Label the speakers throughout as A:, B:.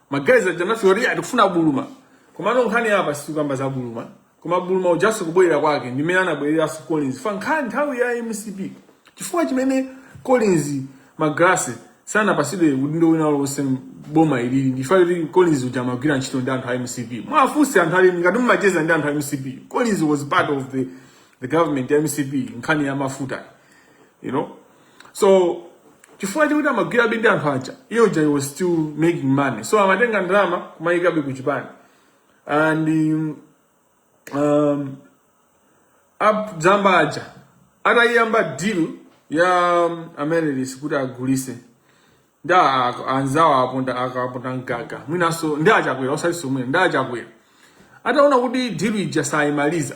A: Magalasi aja anafika atikufuna buluma komano nkhani apa situkamba za buluma koma buluma ujaso kubwerera kwake ndimene anabwereranso collins ifa nkhani nthawi ya mcp chifukwa chimene collins magalasi sanapasidwe udindo wina ulionse m'boma ilili ndifa chakuti collins uja amagwira ntchito ndi anthu a mcp mwafunse anthu ali ngati mumacheza ndi anthu a mcp collins was part of the, the government ya mcp nkhani ya mafuta you know so chifukwa chakuti amagwirabe ndi anthu aja iyo uja he was still making money so amatenga ndalama kumayikabe ku chipani and um, up dzamba aja atayiyamba deal ya um, amaryllis kuti agulise ndi anzawo apondakaponda mgaga mwinanso ndi achakwera osati somwe ndi achakwera ataona kuti deal ija sayimaliza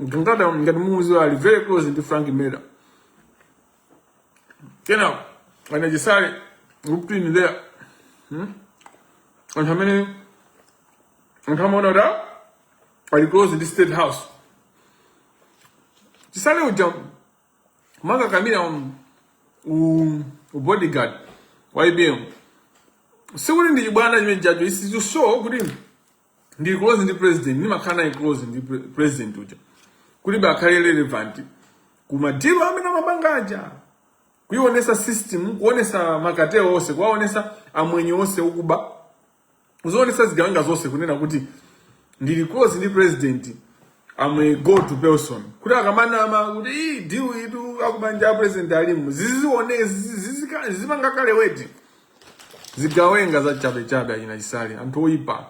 A: Mtungata ngati mumuziwa ali very close ndi Frank Mbeta. Kenako anachisale looked in there. Hmm? Anthu amene anthu amaona kuti ah, ali close ndi State House. Chisale uja amakakamira um, u, u bodyguard wa APM. Sikuti ndi chibwana cha mchombo lende icho so kuti ndili close ndi president ndimakhala naye close ndi pre- president uja kuti akhale relevant ku madilu amene amapanga aja kuionesa system kuonesa makatelo onse kuwaonesa amwenye onse okuba kuzionesa zigawenga zonse kunena kuti ndili close ndi president am a go to person kuti akamanena kuti "Ii, deal iyitu akubanja president alimu zizione zizipanga kolaboleti zigawenga za chabe chabe achina chisale anthu oyipa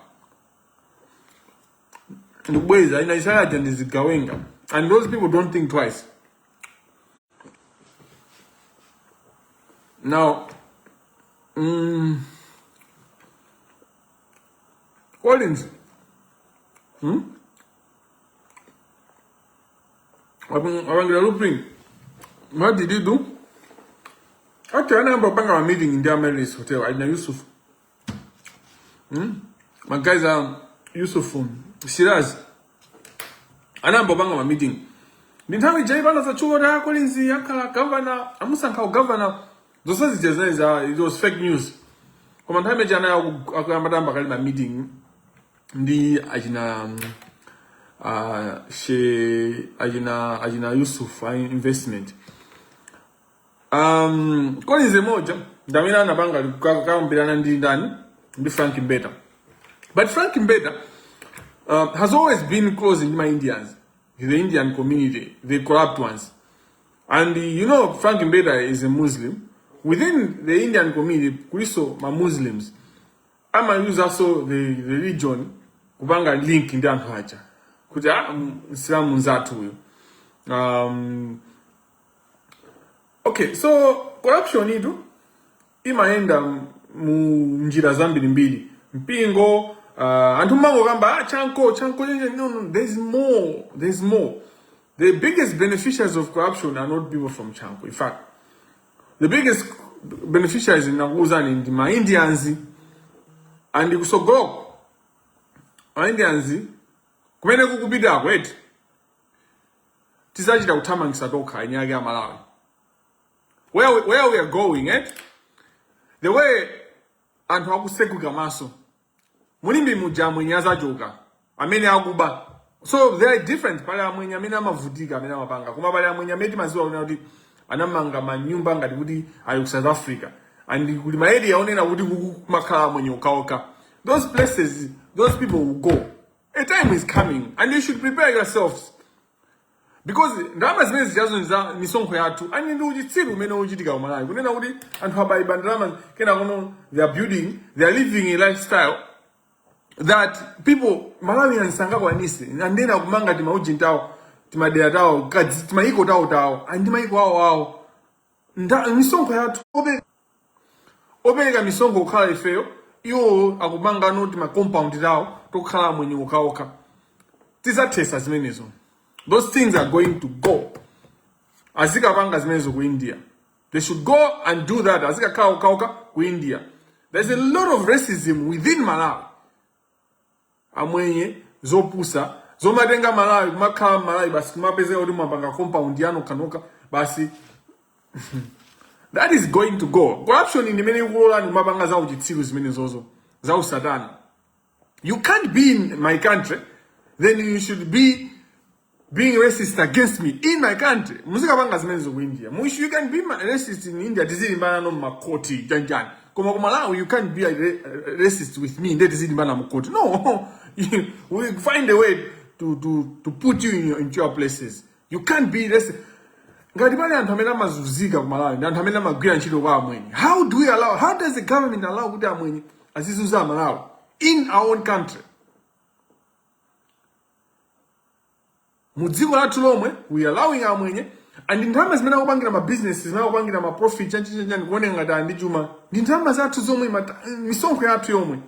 A: ndikukuuzani achina chisale aja ndi zigawenga and those people don't think twice now mm, collins hmm? apangira looping what did you do okay anayamba kupanga ma meeting ndi amaryllis hotel achina yusuf hmm? my guys are um, yusuf um, shiraz anayamba kupanga ma meeting ndi nthawi ija ipano zatchuka kuti a collins akhala gavana amusankha ugavana zonse zija zinali za it was fake news koma nthawi imene ija anali atayamba kale ma meeting ndi achina uh, she achina achina Yusuf a investment um, Collins mmodzi ndi amene anapanga kukambirana ndi ndani ndi Frank Mbeta but Frank Mbeta uh, has always been close ndi ma Indians the Indian community the corrupt ones and uh, you know Frank Mbeta is a Muslim within the Indian community kuliso ma Muslims amayuzaso the religion kupanga link ndi anthu aja kuti a ah, msilamu nzathu uyu um, okay so corruption itu imayenda mu njira zambirimbiri mpingo uh, anthu mumangokamba ah, chanko chanko no, no, there's more there's more the biggest beneficiaries of corruption are not people from chanko in fact the biggest beneficiaries ndinakuuzani ndi ma indians and kutsogoloko ma indians kumene tikupitako eti tizachita kuthamangisa tokha eni ake Amalawi where, we- where we are going eti the way anthu akusegwika maso mu Limbe muja amwenye azachoka amene akuba so they are different pali amwenye amene amavutika amene amapanga koma pali amwenye amene timaziwa kunena kuti anamanga manyumba ngati kuti ali ku south africa and kuli ma area onena kuti kumakhala amwenye okhaokha those places those people will go a time is coming and you should prepare yourselves because ndalama zimene zijazo ndi za misonkho yathu and ndi uchitsiru umene ukuchitika ku Malawi kunena kuti anthu amaba ndalama kenakono they are building they are living a lifestyle that people Malawians sangakwanise and ena kumanga timaujintawo timadera tawo timayiko tawo tawo and mayiko awo awo Nda- misonkho yathu ope- opereka misonkho kukhala ifeyo iwo akupangano tima compound tawo tokhala amwenye okhaokha tizathesa zimenezo those things are going to go azikapanga zimenezo ku india they should go and do that azikakhala okhaokha ku india there's a lot of racism within malawi amwenye zopusa zomatenga malawi kumakhala m'Malawi basi kumapezeka kuti mwapanga compound yanu ya nokha basi that is going to go corruption ndi imene ikulolani kumapanga za uchitsiru zimenezozo za usatana you can't be in my country then you should be being racist against me in my country mukapange zimenezo ku india mush you can be ma- racist in india tizilimbana mu makhoti chanichani koma ku malawi you can't be a ra- racist with me nde tizilimbana mukhoti no you- we find a way to, to, to put you in your, into your places you can't be racist ngati pali anthu amene amazunzika ku malawi ndi anthu amene amagwira ntchito kwa amwenye how do we allow how does the government allow kuti amwenye azizunza amalawi in our own country mu dziko lathu lomwe we allowing amwenye and ndalama zimene akupangira ma business zimene akupangira ma profit chanichani kuoneka ngati ali ndi chuma ndi ndalama zathu zomwe mata- misonkho yathu yomwe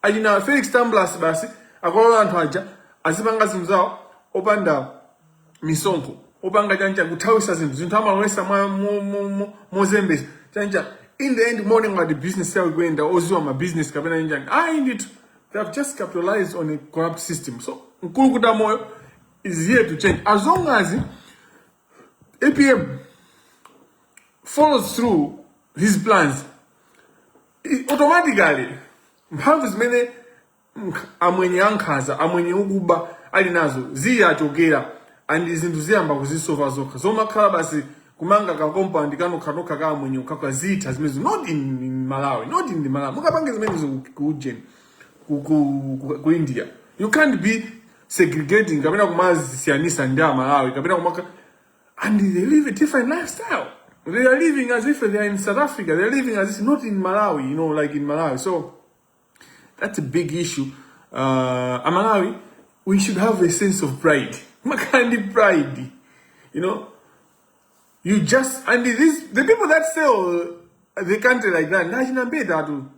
A: achina felix tambulasi basi akulola anthu aja azipanga zinthu zawo opanda misonkho opanda chanichani kuthawitsa zinthu zinthu amalowetsa mwa- mo- mo- mo- mozembetsa chanichani in the end amaoneka ngati business yawo ikuyenda odziwa ma business kapena chanichani ayi ndithu They have just capitalized on a corrupt system. So Nkulukuta Moyo is here to change. As long as APM follows through his plans, it automatically mphamvu zimene mk- amwenye ankhanza amwenye ukuba ali nazo ziyachokera and zinthu ziyamba kuzisova zokha zomakhala basi kumanga ka compound kanokhanokha ka amwenye okhaokha zitha zimenezo not in, in malawi not in the malawi mukapange zimenezo ku- ku ujeni ku, ku, ku, ku india you can't be segregating kapena kumadzisiyanitsa ndi amalawi kapena kumaka and they live a different lifestyle they are living as if they are in south africa they are living as if not in malawi you know like in malawi so That's a big issue. Uh, Amalawi, we should have a sense of pride. Makandi pride. You know? You just, and this, the people that sell the country like that, nachina mbeta tu.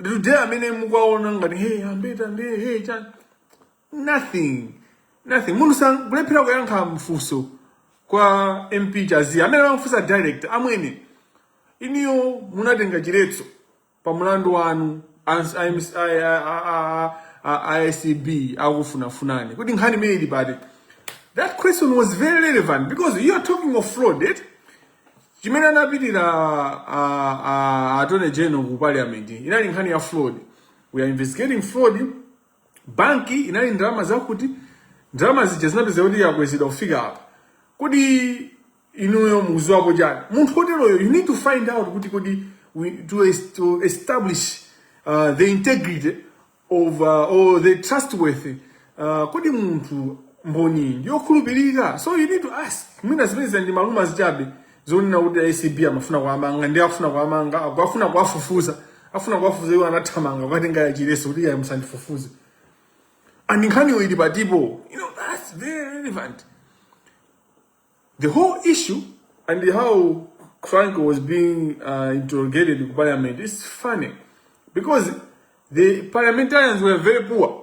A: Today amene mukwaona ngati, hey, ambeta ndi, hey, chan. Nothing. Nothing. Mundu sang, kulephera kuyankha mfuso kwa MP Chaziya. Amene wamfusa direct, amwene. Iniyo munatenga chiletso. pa mlandu wanu ans- a MC a- a- a- a- a- a acb akufunafunani kuti nkhani imene ili pati but that question was very relevant because you are talking of fraud eh? chimene anapitira a- a- attorney general ku parliament inali nkhani ya fraud we are investigating fraud banki inali ndalama zakuti ndalama zija zinapezeka kuti akwezedwa kufika apa kodi inuyo mukudziwapo chani munthu woteroyo you need to find out kuti kodi we, to, es- to establish uh, the integrity of uh, or the trustworthy uh, kodi munthu mboni ndi yokhulupirika so you need to ask mwina zimenezo ndi ma rumours chabe zonena kuti acb amafuna kuwamanga ngati akufuna kuwamanga aku- akufuna kuwafufuza afuna kuwafufuza iwo anathamanga kukatenga chiletso kuti iye musandifufuze and nkhaniyo ili pati apa you know that's very relevant the whole issue and how Frank was being uh, interrogated ku parliament is funny because the parliamentarians were very poor.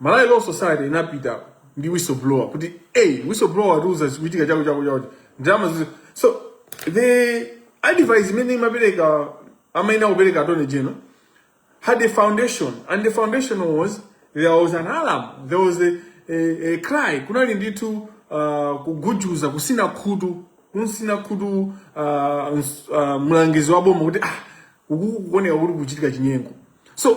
A: Malawi Law Society inapita ndi whistleblower kuti hey, whistleblower watiuza zikuchitika chakuti chakuti chakuti ndalama izi so the advice imene imapereka amayenera kupereka attorney general had a foundation and the foundation was there was an alarm there was a, a, a cry kunali ndithu uh, kugujuza kutsina khutu kumtsina khutu uh, ns- uh, mlangizi wa boma kuti ah kuku- kukuoneka kuti kuchitika chinyengo so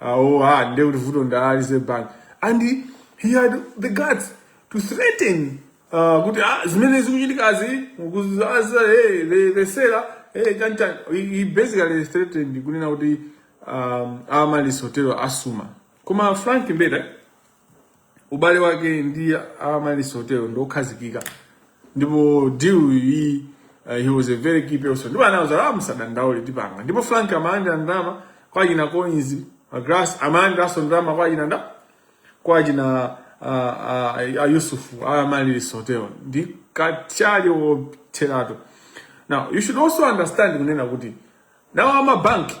A: Ah, oh, ah, nde kuti vuto nda Reserve Bank. And he, he had the guts to threaten uh, kuti ah, zimene zikuchitikazi kuzaza hey, the, the seller hey, chani chani. He, he basically threatened kunena kuti um, Amaryllis Hotel asuma. Koma Frank Mbeta ubale wake ndi amaryllis hotel ndiokhazikika ndipo deal iyi uh, he was a very key person ndipo anauza ah musadandaule tipanga ndipo frank amalandira ndalama kwa china coins grass amalandiranso ndalama kwa china nda kwa china uh, uh, yusuf amaryllis hotel ndi kachali wotheratu now you should also understand kunena kuti nawo amabanki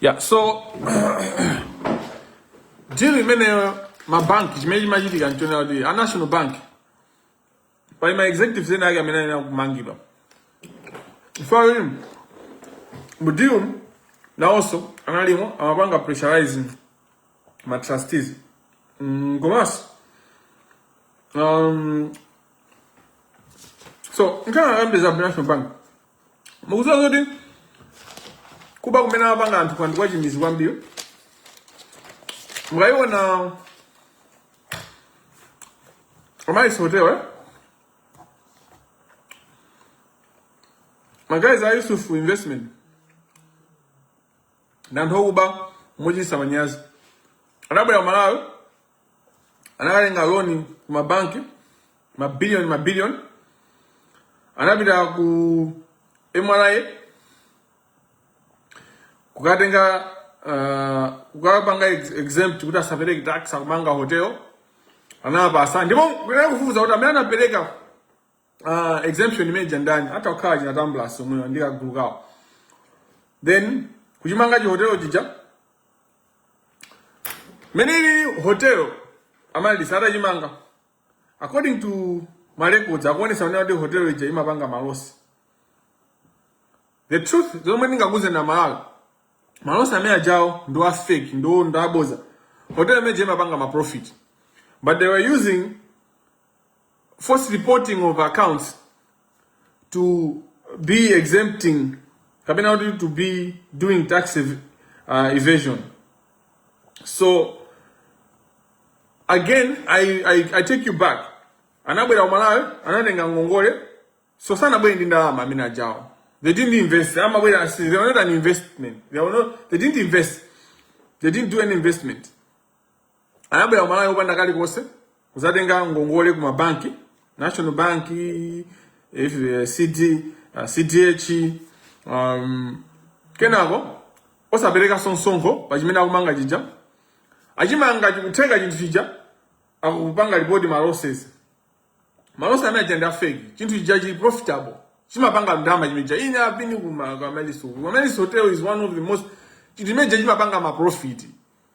A: yeah so deal imeneyo mabanki chimene chimachitika nchonena kuti a national bank pali ma executives ena ake amene ayenera kumangidwa chifukwa kuti mu deal nawonso analimo amapanga pressurize ma trustees mm, komanso um, so nkhani zambiri za national bank mukuziwa zoti kuba kumene amapanga anthu kwa ndikwachimizi kwambiri mukayiona amaryllis hotel eh? ma guys a yusuf investment ndi anthu okuba mochititsa manyazi adabwera ku malawi anakatenga loni ku mabanki mabiliyoni mabiliyoni anapita ku mra kukatenga uh, kukapanga exempt kuti asapereke tax akumanga hotel anapasa ndipo kunali kufufuza kuti amene anapereka uh, exemption imene ija ndani atha kukhala china tamblas omwewa ndi kagulu kawo then kuchimanga chihotelo chija meneli hotel amaryllis atachimanga according to ma records akuonesa kunena kuti hotel ija imapanga malosi the truth zomwe ndingakuuzeni amalawi malosi amene ajawo ndi a fake ndo ndaboza hotel imene ija imapanga ma profit but they were using force reporting of accounts to be exempting kapena kuti to be doing tax ev uh, evasion so again I, I, i take you back anabwera kumalawi anatenga ngongole so sanabwere ndi ndalama amene ajawo they didn't invest amabwera they were not an investment they, were not, they didn't invest they didn't do any investment anabwera ku Malawi opanda kalikonse kuzatenga ngongole ku mabanki national bank if, uh, CD, uh, cdh um, kenako osapereka msonkho pa chimene akumanga chija achimanga chikutheka chinthu chija akupanga lipoti ma losses ma losses amene aja ndi afeki chinthu chija chili profitable chimapanga ndalama chinthu chija ine apini ku ma- ku Amaryllis hotel Amaryllis hotel is one of the most chinthu chimene chija chimapanga maprofiti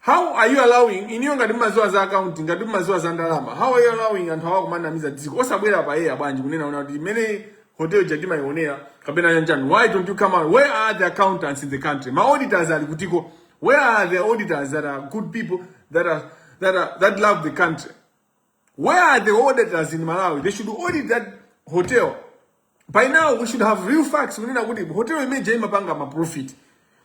A: How are you allowing inuyo ngati mmaziwa za account ngati mmaziwa za ndalama how are you allowing anthu awa kumanamiza dziko osabwera poyera bwanji kunena kuti imene hotel ija timayionera kapena yanjani why don't you come out where are the accountants in the country ma auditors ali kutiko where are the auditors that are good people that are that are that love the country Where are the auditors in Malawi? They should audit that hotel. By now we should have real facts. Kunena kuti hotel imeja imapanga ma profit.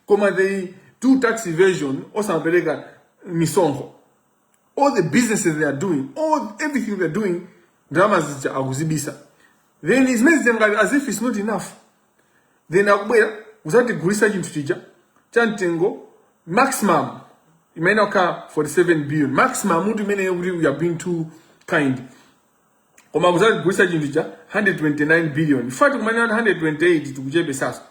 A: Koma they do tax evasion osapereka misonkho. All the businesses they are doing, all everything they are doing, ndalama zija akuzibisa. Then zimene zija ngati as if it's not enough. then akubwera kuzatigulisa chinthu chija cha mtengo maximum imeneyo ka 47 billion maximum mutu imeneyo kuti we have been too kind koma kuzatigulisa chinthu cha 129 billion in fact imene 128 tikuchepesa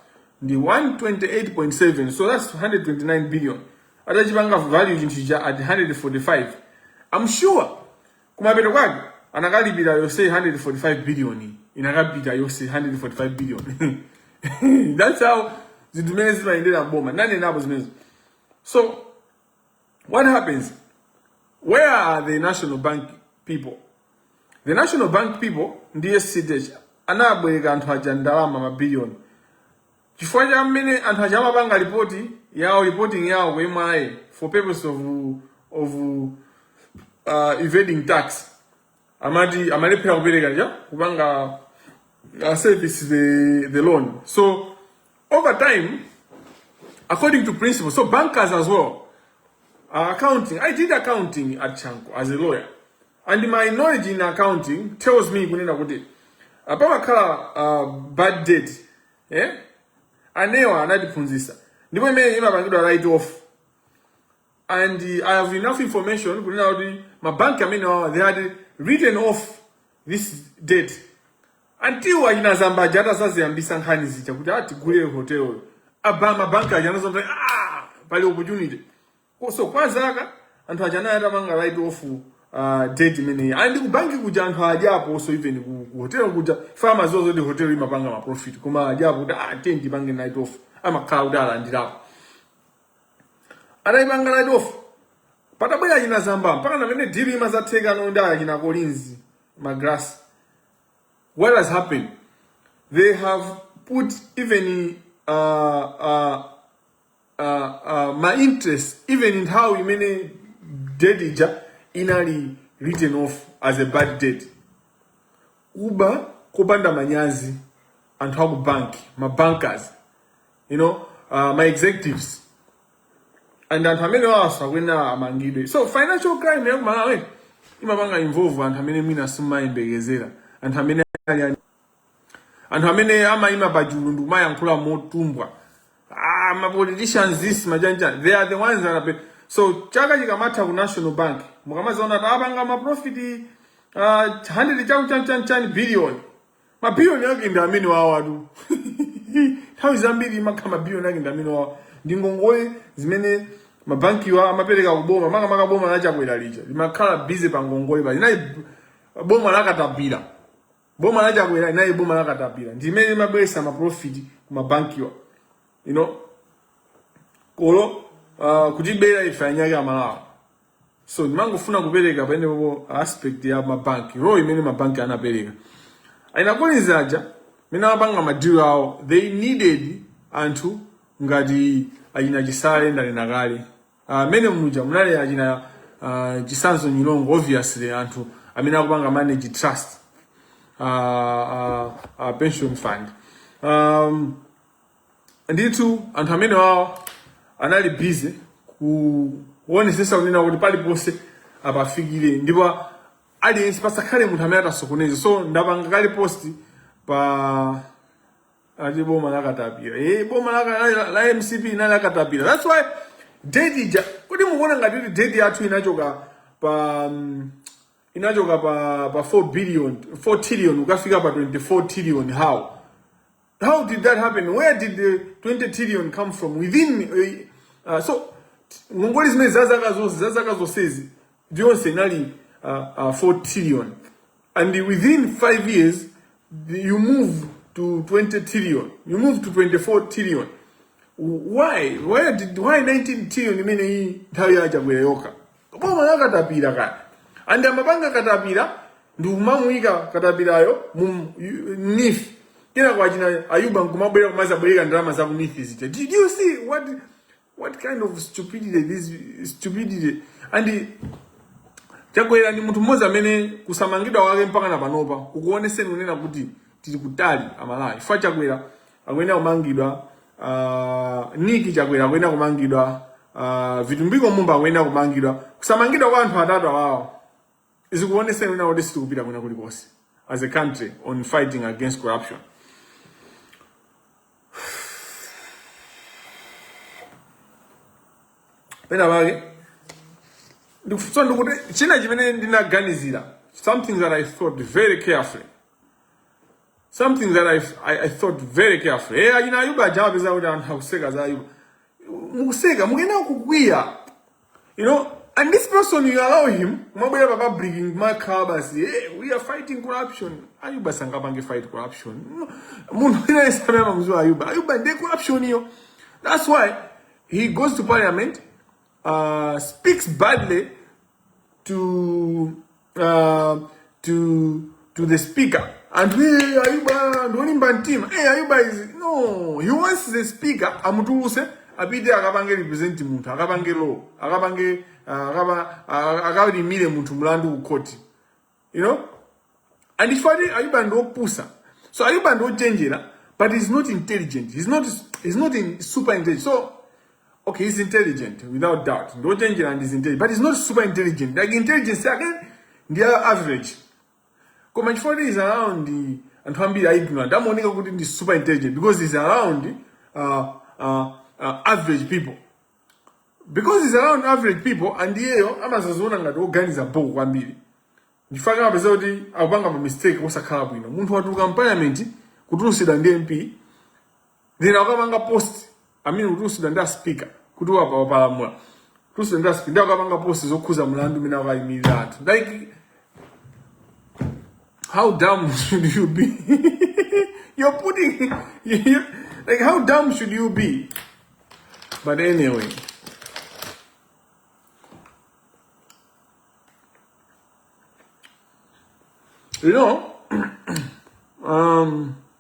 A: ndi 128.7 so that's 129 billion atachipanga value chinthu cha at 145 i'm sure kumapeto kwake anakalipira yose 145 billion inakapita yose 145 billion that's how zinthu zimene zimayendera mboma ndanenapo zimenezo so what happens where are the national bank people the national bank people ndiye cdh anabwereka anthu aja ndalama mabiliyoni Chifukwa cha mmene anthu aja amapanga lipoti yawo reporting yawo ku MRA for purpose of, of uh, evading tax amati amalephera kupereka kuja kupanga uh, service the, the loan so over time according to principles of bankers as well uh, accounting i did accounting at chanco as a lawyer and my knowledge in accounting tells me kunena kuti uh, pamakhala uh, bad debt eh? anewa anatiphunzisa ndipo imene imapangidwa write off and uh, i have enough information kunena kuti mabanki amenewawa they had written off this debt until achina Zamba aja atasaziyambisa nkhani zija kuti atigulire hoteloyo apa mabanki aja anazomva ah, pali opportunity Ko- so kwa zaka anthu aja anali atapanga write off uh, debt imeneyi ayi ndiye kubanki kuja anthu adyapo so even ku, ku hotel kuja famazozo ndi hotel imapanga ma profit koma adyapo kuti ah ten tipange write off amakhala kuti alandirapo ataipanga write off patabwera achina Zamba mpakana mmene deal imazatheka no ndi achina Collins Magalasi what has happened they have put even uh, uh, uh, uh, ma interest even nthawi imene debt ija inali written off as a bad debt kuba kopanda manyazi anthu aku banki ma bankers you know uh, ma executives and anthu amene awawa sakuyenera amangidwe so financial crime ya kumalawi imapanga involve anthu amene mwina simumayembekezera anthu amene ali anthu amene amayima pachulu ndikumayankhula motumbwa ah, ma politicians these ma chanichani they are the ones that are so chaka chikamatha ku national bank mukamadzaona kuti apanga maprofiti uh, ah, 100 chakuti chanichani billion mabiliyoni ake ndi amenewawatu nthawi zambiri amakhala mabiliyoni ake ndi amenewawa ndi ngongole zimene mabankiwa amapereka kuboma makamaka boma lachakwera lija limakhala busy pa ngongole paja linali boma lakatapira boma la chakwera linali boma la katapira ndimene imabweretsa maprofiti ku mabankiwa you know koma uh, kutibera ife anzake amalawi so ndimangofuna kupereka pamenepo aspect ya mabanki role imene mabanki anapereka ainakoniziaja mene amapanga madiro awo they needed anthu ngati achina chisale ndanena kale Ah, mene muja munali achina ah, chisanzo nyilongo obviously anthu amene akupanga manage trust ah, ah, ah, pension fund um, ndithu anthu amenewawo anali busy kuonetsetsa kunena kuti paliponse apafikire ndipo aliyense pasakhale munthu amene atasokoneze so ndapanga kale post pa Ati boma la katapira. Eh, boma la, la, la, la MCP inali la katapira. That's why debt ija. Kodi mukuona ngati kuti debt yathu inachoka pa um, inachoka pa pa 4 billion, 4 trillion kukafika pa 24 trillion how? How did that happen? Where did the 20 trillion come from? Within uh, uh, so ngongole zimene zazaka zonse zazaka zonsezi yonse inali uh, uh, 4 trillion and within 5 years you move to 20 trillion you move to 24 trillion why why did why 19 trillion imene iyi nthawi ya chakwera yokha boma la katapira kaya and amapanga katapira ndi kumamuyika katapirayo mu yu- NEEF kenaka achina Ayuba nkumabwera kumadzabwereka ndalama za ku NEEF zija did you see what What kind of stupidity this stupidity and Chakwera ndi munthu mmodzi amene kusamangidwa wake mpaka na panopa kukuonetseni kunena kuti tili kutali amalawi chifukwa Chakwera akuyenera kumangidwa uh, Niki Chakwera akuyenera kumangidwa uh, Vitumbiko Mumba akuyenera kumangidwa kusamangidwa kwa anthu atatu awawa zikuonesa kuti sitikupita kwina kulikonse as a country on fighting against corruption pena pake ndikufuna ndikuti china chimene ndinaganizira something that i thought very carefully something that i, I, I thought very carefully eh achina ayuba aja apeza kuti anthu akuseka za ayuba mukuseka mukuyenera kukwiya You know, and this person you allow him, kumabwera pa public kumakhala basi, hey, eh, we are fighting corruption. Ayuba sangapange fight corruption. No. Munthu wina yesamene amamuziwa Ayuba. Ayuba ndiye corruption iyo. That's why he goes to parliament, uh, speaks badly to uh, to to the speaker and we ayuba ndolimba mtima eh ayuba is no he wants the speaker amutuluse apite akapange represent munthu akapange law akapange uh, akaba uh, akalimire munthu mlandu ku court you know and if I ayuba ndopusa so ayuba ndochenjera but he's not intelligent he's not he's not in super intelligent so Okay, he's intelligent without doubt. Ndi wochenjera and he's intelligent, but he's not super intelligent. Like intelligence yake ndi ya average. Koma chifukwa is around the anthu ambiri a ignorant amaoneka kuti ndi super intelligent because he's around uh, uh, uh, average people because he's around average people and iyeyo amazaziona ngati oganiza bho kwambiri chifukwa kumapeza kuti akupanga ma mistake osakhala bwino munthu watuluka mu parliament kutulusidwa ndi mp then akapanga post mmene kutulusidwa ndi aspika kuti wapa wapalamula kutulusidwa ndi aspika ndiye akapanga post yokhuza mlandu umene akuyimirira anthu like how dumb should you be you're putting you, like how dumb should you be but anyway you know um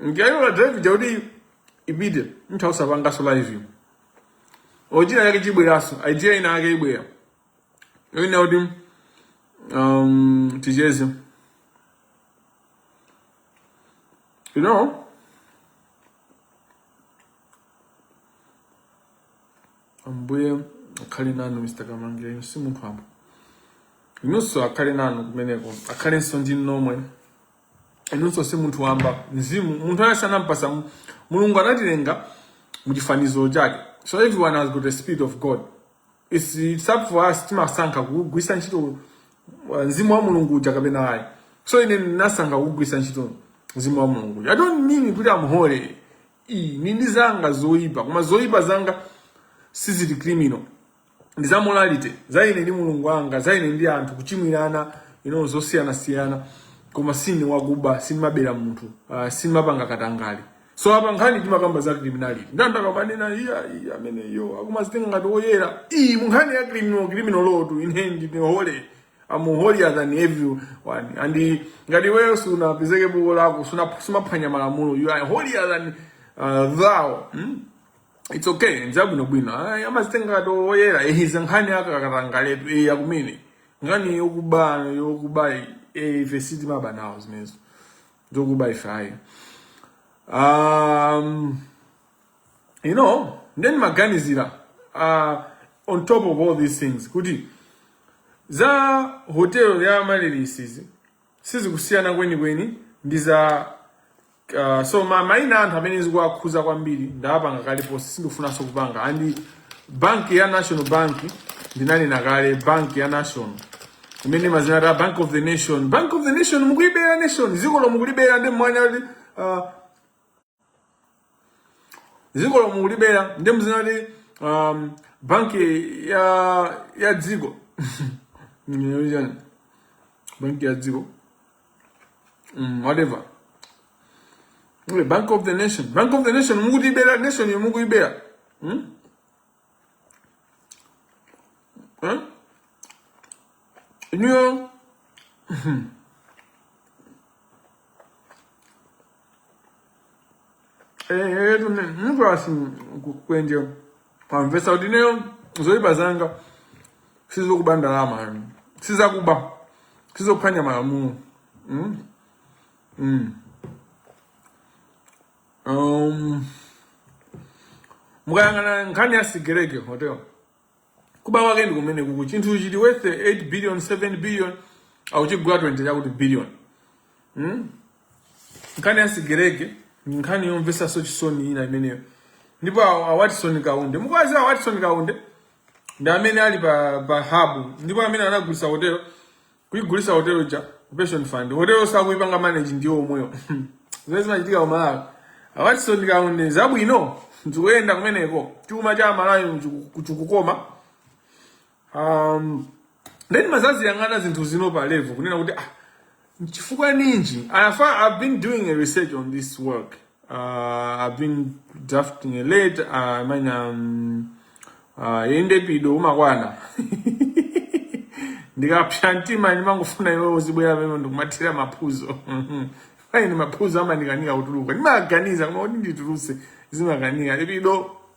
A: Ndikali pa drive kuti ipite nthawi usapanga za live. Original yake ikubweraso, idea ina yake ibwera. Ine ndinati um ticheze. You know? Ambuye akhale nanu Mr. Kamangila, si munthu wamba. Inuso akhale nanu kumeneko, akhalenso ndi nomwe. inunso si munthu wamba mzimu munthu anati anampasa mu- mulungu anatilenga muchifaniziro chake so everyone has got the spirit of god it's, it's up for us timasankha kugwisa ntchito uh, mzimu wa mulungu uja kapena ayi so ine ndinasankha kugwisa ntchito mzimu wa mulungu uja. i don't mean kuti am holy Ii, nindi zanga zoipa koma zoipa zanga sizili criminal ndi za morality za ine ndi mulungu wanga za ine ndi anthu kuchimwirana mu zosiyana siyana koma sine wakuba sindimabera munthu uh, sindimapanga katangale so apa nkhani tikukamba za criminality nde ndikumanena eya eya amene iwo akumazitenga ngati oyera eya mu nkhani ya criminal criminal law to me I am holy I'm holier than everyone and ngati iweyo sunapezeke kuti walakwa suna- sumaphwanya malamulo you are holier than uh, thou hmm? It's okay, ndi zabwinobwino. Ay, amazitenga ngati oyera, eh, izi nkhani za katangaletu, eh, akumene. Nkhani yokuba, yokuba, eh, ife sitimaba nawo zimenezo. Zokuba ife ayi. Um, you know, nde ndimaganizira, uh, on top of all these things, kuti, za hotel ya Amaryllis-zi, sizikusiyana kwenikweni, ndi za Uh, so maina a anthu amene zikuwakhuza kwambiri ndawapanga kale post sindikufunanso kupanga and banki ya national bank ndinanena kale banki ya national imene imadzinena kuti bank of the nation bank of the nation mukuibera nation dzikolo mukulibera nde mumanena kuti uh, dzikolo mukulibera nde mumadzinena kuti um, banki ya ya dziko Nini, banki ya dziko mm, whatever Ule bank of the nation bank of the nation mukutibera nation yo mukuyibera hmm? huh? inuyo etu mtu asi kwenje Kumvetsa kuti ineyo zoyipa zanga sizokuba ndalama ayi. Sizokuba. Sizophwanya malamulo. Mm. Mm. Um, mukayang'ana nkhani ya Sigelege hotel kuba kwake ndi komweku chinthu chili worth 8 billion 7 billion akuchigula 20 chakuti billion mm? Nkhani ya Sigelege ndi nkhani yomvetsanso chisoni ina imeneyo. Ndipo a a Watson Kaunde, mukuwadziwa a Watson Kaunde ndi amene ali pa pa hub ndipo amene anagulitsa hotelo kuigulitsa hotelo ja ku pension fund. Hotelo sakuipanga manage ndiwo omwewo. Zimene zimachitika ku Malawi. A Watson Kaunde zabwino zikuyenda kumeneko. Chuma cha Malawi chiku- chikukoma. um, then ndimazaziyang'ana zinthu zino pa level kunena kuti ah, chifukwa ninji anafa i've been doing a research on this work uh, i've been drafting a letter uh, i mean um, uh, nde penapake umadziwa ndikapsa mtima ndimangofuna iwe uzibwera pano ndikumathira maphuzo ine ndi maphuzo amandikanika kutuluka ndimaganiza koma kuti ndituluse zimakanika you know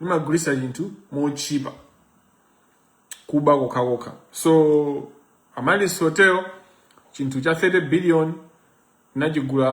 A: imagulitsa chinthu motchipa kuba kokhakokha so Amaryllis hotel chinthu cha 30 billion inachigula